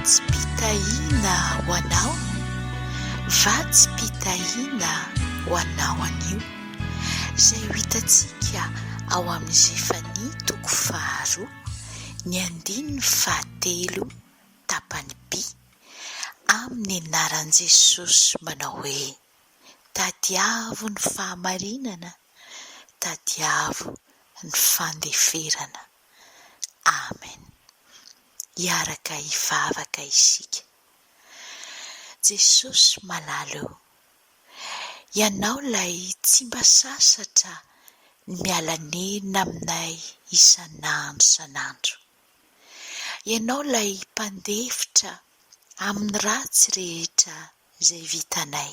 Vatsim-pitahiana ho anao, vatsim-pitahiana ho anao anio, izay ho hitantsika ao amin'ny Zefania toko faharoa, ny andininy fahatelo, tapany B, amin'ny anaran'i Jesosy manao hoe. Tadiavo ny fahamarinana, tadiavo ny fandeferana. Amen. Hiaraka hivavaka isika. Jesosy malala o, Ianao ilay tsy mba sasatra ny miala nenina aminay isan'andro isan'andro. Ianao ilay mpandefitra amin'ny ratsy rehetra izay vitanay.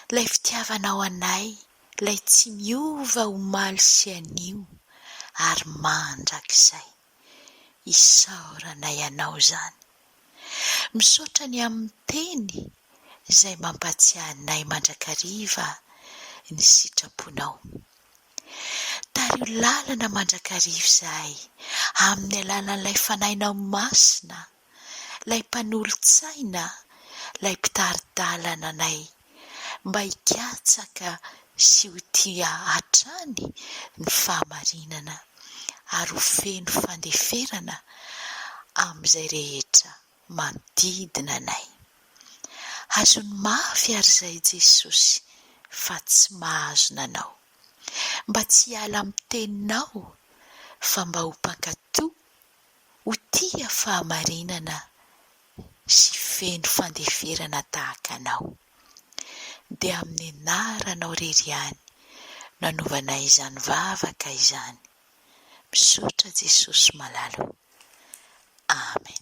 Ilay fitiavanao anay, ilay tsy miova omaly sy anio ary mandrakizay. Isaoranay anao izany. Misaotra ny amin'ny teny izay mampatsiahy anay mandrakariva ny sitraponao. Tariho lalana mandrakariva izahay amin'ny alalan'ilay Fanahinao Masina. 'lay mpanolo-tsaina, 'lay mpitari-dalana anay mba hikatsaka sy ho tia hatrany ny fahamarinana ary ho feno fandeferana amin'izay rehetra manodidina anay. Hazony mafy àry izay Jesosy fa tsy mahazo nanao. Mba tsy hiala amin'ny Teninao fa mba ho mpankatò ho tia fahamarinana sy feno fandeferana tahaka anao. Dia amin'ny anaranao irery ihany no anaovanay izany vavaka izany. Misaotra Jesosy malala o. Amen.